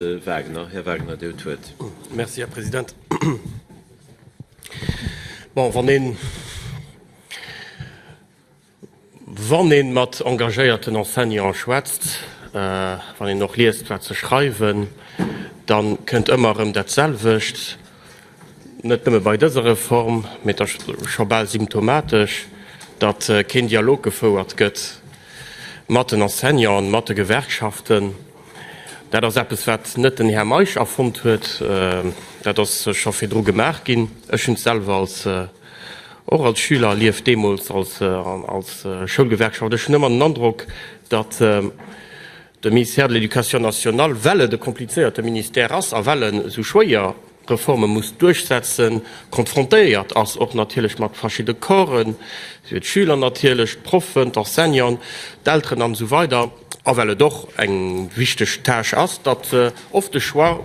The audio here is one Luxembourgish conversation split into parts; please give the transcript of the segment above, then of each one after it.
Wagner, Här Wagner, Dir hutt d'Wuert. Merci, Här President. Bon, wann een, wann ee mat engagéierten Enseignanten schwätzt, wann een och liest, wat se schreiwen, da kënnt ëmmer erëm datselwecht, Net nëmme bei dëser Reform, mee et ass scho bal symptomatesch, datt keen Dialog gefouert gëtt mat den Enseignanten, mat de Gewerkschaften. Dat ass eppes, wat net den Här Meisch erfonnt huet, dat ass scho virdru gemaach ginn. Ech hunn et selwer als, och als Schüler erlieft, deemools als Schoulgewerkschaft. Ech hunn ëmmer den Androck, datt, De Ministère de l'Éducation nationale, well et e komplizéierte Ministère ass a well en esou schwéier Reforme muss duerchsetzen, konfrontéiert ass och natierlech mat verschidde Corpsen, sief et d'Schüler natierlech, d'Proffen, d'Enseignanten, d'Elteren an esou weider a well et och eng wichteg Tâche ass, datt oft de Choix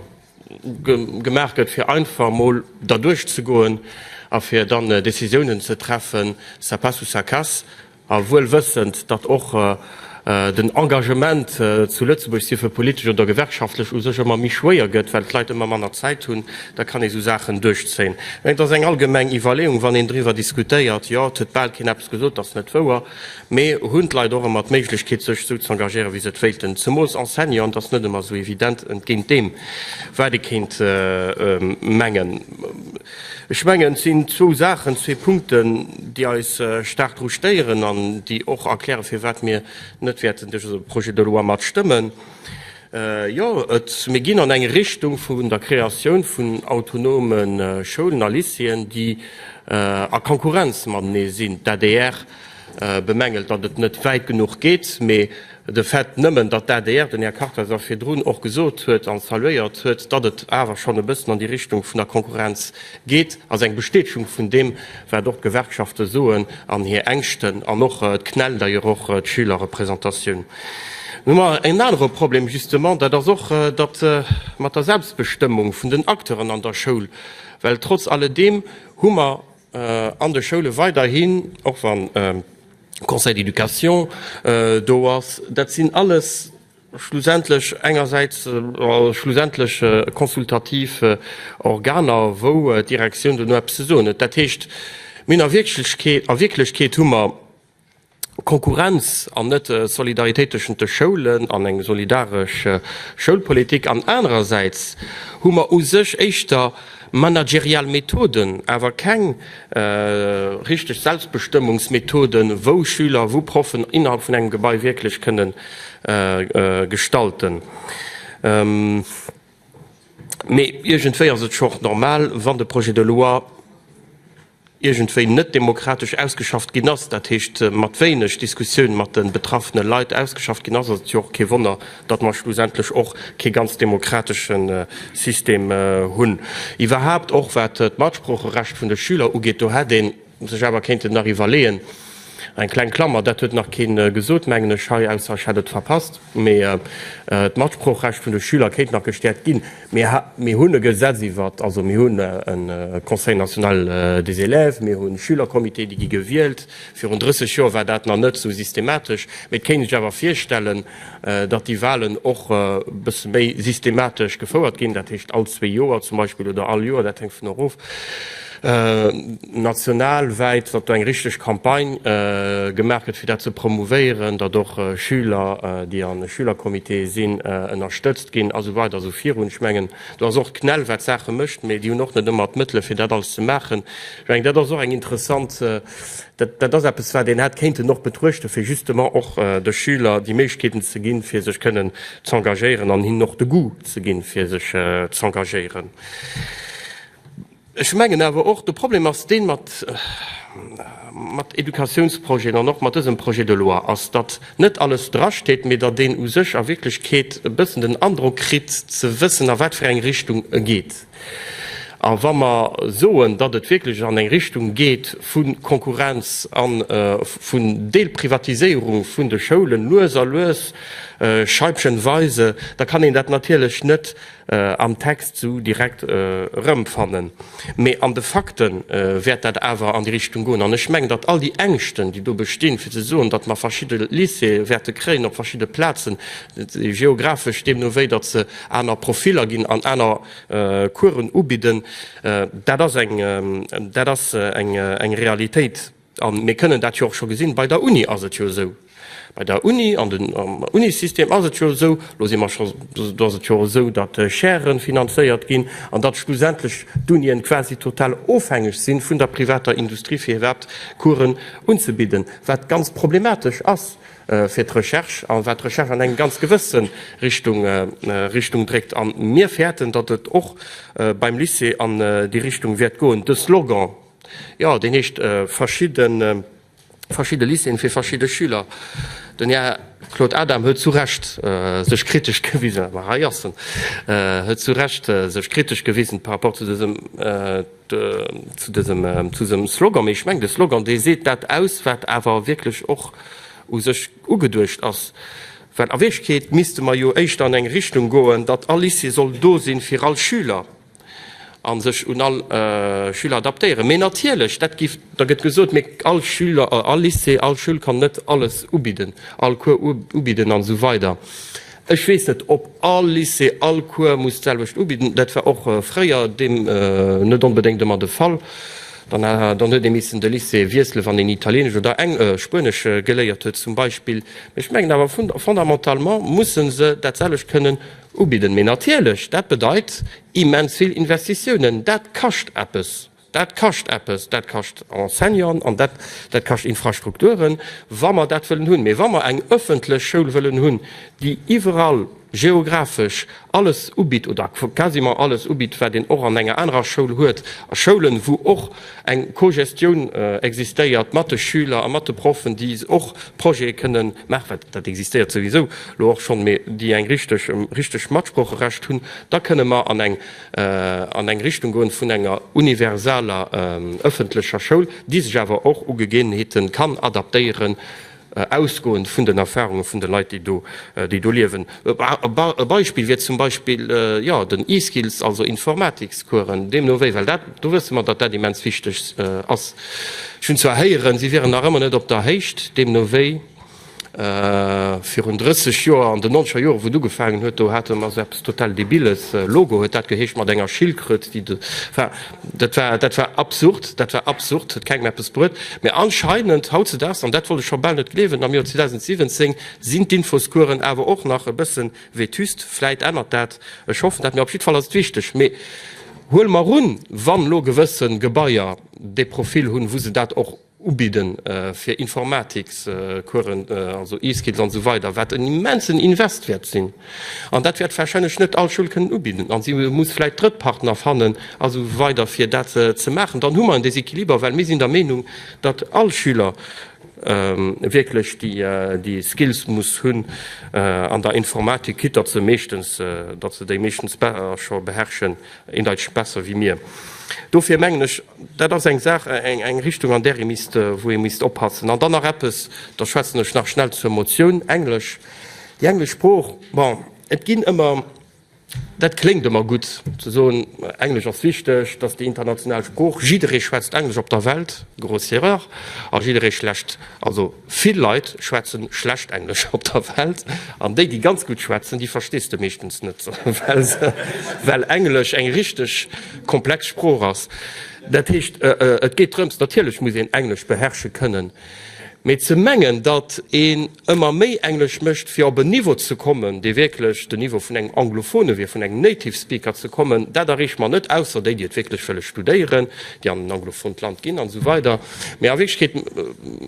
gemaach gëtt, fir einfach emol derduerch ze goen a fir dann Décisiounen ze treffen, ça passe ou ça casse. A wuel wëssend, datt och den Engagement zu Lëtzebuerg, sief e politesch oder gewerkschaftlech, u sech ëmmer méi schwéier gëtt, well d'Leit ëmmer manner Zäit hunn, da kann ee sou Saachen duerchzéien. Mä et ass eng allgemeng Iwwerleeung, wann een driwwer diskutéiert, jo, et huet bal keen eppes gesot, datt net wouer, mä hunn d'Leit och ëmmer d'Méiglechkeet, sech sou ze engagieren, wéi se et wéilten? Zemools Enseignant ass net ëmmer sou evident, entgéint deem, wat ee kéint mengen. Ech mengen, et sinn zwou Saachen, zwee Punkten, déi eis staark dru stéieren an déi och erklären, firwat mir net wäerten dëse Projet de loi matstëmmen. Jo, mir ginn an eng Richtung vun der Kreatioun vun autonome Schoulen a Lycéeën, déi a Konkurrenz matenee sinn. D'adr bemängelt, datt et net wäit genuch geet, mee De Fait nëmmen, datt d'ADR, den Här Karkleis a virdrun och gesot huet an saluéiert huet, datt et awer schonn e bëssen an déi Richtung vun der Konkurrenz geet, ass eng Bestätegung vun deem, wat och d'Gewerkschafte soen an hir Ängschten an och d'CNEL, d'ailleurs och d'Schülerrepräsentatioun. Nun hu mer en anere Problem, justement, dat ass och dat mat der Selbstbestëmmung vun den Acteuren an der Schoul, well trotz alledeem hu mer, An de Schoule weiderhin, och wa Conseil d'éducation do ass, dat sinn alles schlussendlech engersäits schlussendlech consultativ Organer, wou d'Direktioun duerno eppes ze soen huet. Dat heescht, mir hunn a Wierklechkeet hu mer Konkurrenz an net Solidaritéit tëschent de Schoulen an eng solidaresch Schoulpolitik an anerersäits hu mer u sech éischter managerial Methoden, awer keng richteg Selbstbestëmmungsmethoden, wou Schüler, wou Proffen innerhalb vun engem Gebai wierklech kënne gestalten. Mee iergendwéi ass et schonn normal, wann de Projet de loi, iergendwéi net demokratesch ausgeschafft ginn ass, dat heescht mat wéineg Diskussioun mat de betraffene Leit ausgeschafft ginn ass, ass et jo och kee Wonner, datt mer schlussendlech och kee ganz demokratesche System hunn. Iwwerhaapt och wat d'Matsproocherecht vun de Schüler ugeet, do hätt ee sech awer kéinte nach iwwerleeën, Eng kleng Klammer, dat huet nach keen gesot, mengen ech hei, ausser ech hätt et verpasst, mee d'Matsproochrecht vun de Schüler kéint nach gestäerkt ginn. Mir hunn e Gesetz iwwert, also mir hunn e Conseil national des élèves, mir hu Schülercomitéen, déi gi gewielt. Virun 30 Joer war dat nach net esou systematesch, mee et kéint ee sech awer virstellen, datt déi Wahlen och e bësse méi systematesch gefouert ginn, dat heescht all zwee Joer zum Beispill oder all Joer, dat hänkt vun erof. national wäit, datt do eng richteg Campagne gemaach gëtt fir dat ze promouvéieren, datt och Schüler, déi a Schülercomitéë sinn, ënnerstëtzt ginn a sou weider a sou virun. Ech mengen, do ass och d'CNEL, wat d'Saache mécht, mee déi hunn och net ëmmer d'Mëttele fir dat alles ze maachen. Ech mengen, dat ass och eng interessant, dat, dat ass eppes, wat een hätt kéinten och betruechten, fir justement och de Schüler déi Méiglechkeeten ze ginn, fir sech kënnen z'engagéieren an hinnen och de Goût ze ginn, fir sech z'engagéieren. Ech mengen awer och, de Problem ass deen, mat Éducatiounsprojeten an och mat dësem Projet de loi, ass, datt net alles drasteet, mee datt een u sech a Wierklechkeet e bëssen den Androck kritt, ze wëssen, a wat fir eng Richtung e geet. A wa mer soen, datt et wierklech an eng Richtung geet vu Konkurrenz a vun Deelprivatiséierung vun de Schoulen, lues a lues, scheibchenweise, da kann een dat natierlech net am Text sou direkt erëmfannen, mee an de Fakte wäert dat awer an déi Richtung goen. An ech mengen, datt all déi Ängschten, déi do bestinn, fir ze soen, datt mer verschidde Lycéeë wäerte kréien op verschidde Plazen, geographesch, deemno wéi datt se aner Profiller ginn an aner Coursen ubidden, dat ass eng Realitéit. A mir kënnen dat jo och scho gesinn, bei der Uni ass et jo esou, bei der Uni, an den Unisystem ass et jo esou, elo si mer scho, do ass et jo esou, datt Chaire finanzéiert ginn an datt schlussendlech d'Unien quasi total ofhängeg si vun der privater Industrie, fir iwwerhaapt Coursen unzebidden, wat ganz problematesch ass fir d'Recherche a wat d'Recherche an eng ganz gewësse Richtung dréckt. A mir fäerten, datt et och beim Lycée an déi Richtung wäert goen, de Slogan, Jo, deen heescht verschidde Lycéeën fir verschidde Schüler. Den Här Claude Adam huet zu Recht sech kritesch gewisen, ma hei ass en, huet zu Recht sech kritesch gewisen par rapport zu dësem, zu dësem, zu dësem Slogan. Mee ech mengen, de Slogan, dee seet dat aus, wat awer wierklech och u sech ugeduecht ass. Well a Wierklechkeet misste mer jo éischter an eng Richtung goen, datt all Lycée soll do si fir all Schüler. a sech un all Schüler adaptéieren. Mee natierlech, dat giff, da gëtt gesot, mee all Schüler, all Lycée, all Schoul kann net alles ubidden, all Cours ubidden an esou weider. Ech weess net, ob all Lycée all Cours muss d'selwecht ubidden. Dat war och fréier deem net onbedéngt ëmmer de Fall. Dann, dann huet ee missen de Lycée wiesselen, wann een Italienesch oder Eng, Spuenesch geléiert huet zum Beispill. Mee ech mengen awer fun, fondamentalement musse se dat selwecht kënnen. Ubidden, mee natierlech, dat bedeit immens vill Investitiounen. Dat kascht eppes, dat kascht eppes, dat kascht Enseignanten an dat kascht Infrastrukturen, wa mer dat wëllen hunn. Mee wa mer eng ëffentlech Schoul wëllen hunn, déi iwwerall geographesch alles ubitt oder quasiment alles ubitt, wat een och an enger anerer Schoul huet, a Schoulen, wou och Eng Co-Gestioun existéiert mat de Schüler a mat de Proffen, déi och Projete kënne maachen, well dat existéiert souwisou elo och schonn, mee déi eng richteg richteg Matsproocherecht hunn. Da kënne mer an eng an eng Richtung goen vun enger universaler ëffentlecher Schoul, déi sech awer och u Gegebenheete kann adaptéieren, ausgoend vun den Erfahrunge vun de Leit, déi do, déi do liewen. E Beispill wier zum Beispill, jo, den e-Skills, also Informatikscoursen, deemno wéi, well dat, do wësse mer, datt dat immens wichteg ass. Ech hunn zwar héieren, si wieren nach ëmmer net op der Héicht, deemno wéi virun 30 Joer, an den nonzeger Joren, wou et ugefaangen huet, do hate mer esou eppes total Debilles, Logo huet dat geheescht, mat enger Schildkröt, déi de, enfin. Dat war, dat war absurd, dat war absurd, huet kengem eppes bruet. Mä anscheinend hautzedaags, an dat wollt ech scho bal net gleewen, am Joer 2017, sinn d'Infoskueren awer och nach e bësse vétuste. Vläit ännert dat, ech hoffen dat, mä op jiddwer Fall ass et wichteg. Mee huele mer un, wann elo gewësse Gebaier dee Profil hunn, wou se dat och, Ubidden fir Informatikscoursen, also E-Skills an esou weider, wat en immensen Invest wäert sinn. An dat wäert warscheinlech net all Schoul kënnen ubidden a si muss vläicht Drëttpartner fannen a esou weider fir dat ze maachen. Dann hu mer en Déséquiliber, well mir sinn der Meenung, datt all Schüler wierklech déi Skills muss hunn an der Informatik, quitt datt se meeschtens, datt se déi meeschtens scho beherrschen, Een Deitschen besser wéi mir. Dofir mengen ech, dat ass eng Saach, eng Richtung, an där ee misst, wou ee misst oppassen. An dann nach eppes, da schwätzen ech nach schnell zur Motioun, Englesch, déi englesch Sprooch. Bon, et ginn ëmmer, dat kléngt ëmmer gutt, ze soen, Englesch ass wichteg, dass déi international Sprooch, jidderee schwätzt Englesch op der Welt, grosse Erreur, a jidderee schlecht, also, Vill Leit schwätzen schlecht Englesch op der Welt, an déi déi ganz gutt schwätzen, déi verstees de meeschtens net, well Englesch eng richteg komplex Sprooch ass. Dat heescht et geet drëms, natierlech muss een Englesch beherrsche kënnen, mee ze mengen datt een ëmmer méi Englesch mécht fir op en Niveau ze kommen, dee wierklech den Niveau vun engem Anglophone wier, vun engem Native Speaker ze kommen, dat erreecht mer net, ausser déi déi et wierklech wëlle studéieren, déi an en anglofont Land ginn an esou weider. Mä a Wierklechkeet,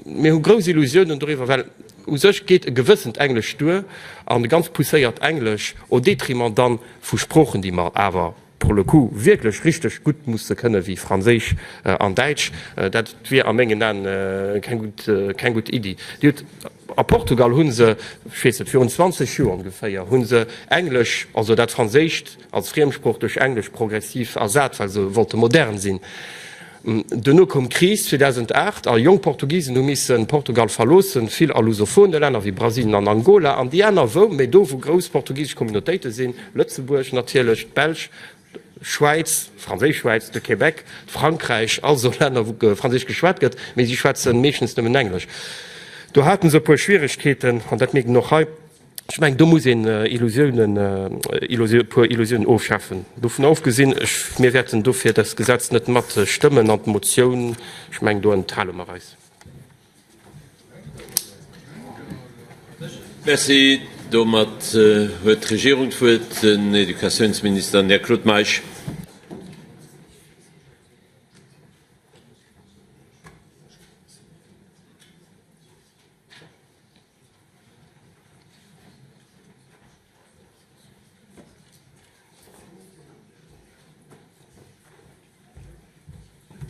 mir hu grouss Illusiounen doriwwer, well u sech geet e gewëssent Englesch duer, an e ganz pousséiert Englesch, au détriment dann vu Sproochen, déi mer awer pour le coup wierklech richteg gutt musse kënnen, wéi Franséisch an Däitsch. Dat wier a mengen Aen keng gutt Iddi. A Portugal hu se, ech weess net, virun 20 Joer ongeféier, hu se Englesch, also dat Franséischt als Friemsprooch duerch Englesch progressiv ersat, well se wollte modern sinn. Duerno koum d'Kris 2008 a jonk Portugisen hu missen Portugal verloossen, vill a lusophone Länner wéi Brasilien an Angola an déi aner wou méi do wou grouss portugisesch Communautéite sinn, Lëtzebuerg natierlech, d'Belsch, d'Schwäiz, d'Franséisch Schwäiz, de Québec, Frankräich, all esou Länner wou Franséisch geschwat gëtt, mee si schwätzen meeschtens nëmmen Englesch. Do haten se e puer Schwieregkeeten an dat mierkt een och hei. Ech mengen do muss een Illusiounen, e puer Illusiounen ofschafen. Dovunner ofgesinn, ech, mir wäerten dofir dëst Gesetz net matstëmmen an d'Motioun, ech mengen do enthale mer eis. Merci. Domat huet d'Regierung d'Wuert, den Educatiounsminister, den Här Claude Meisch.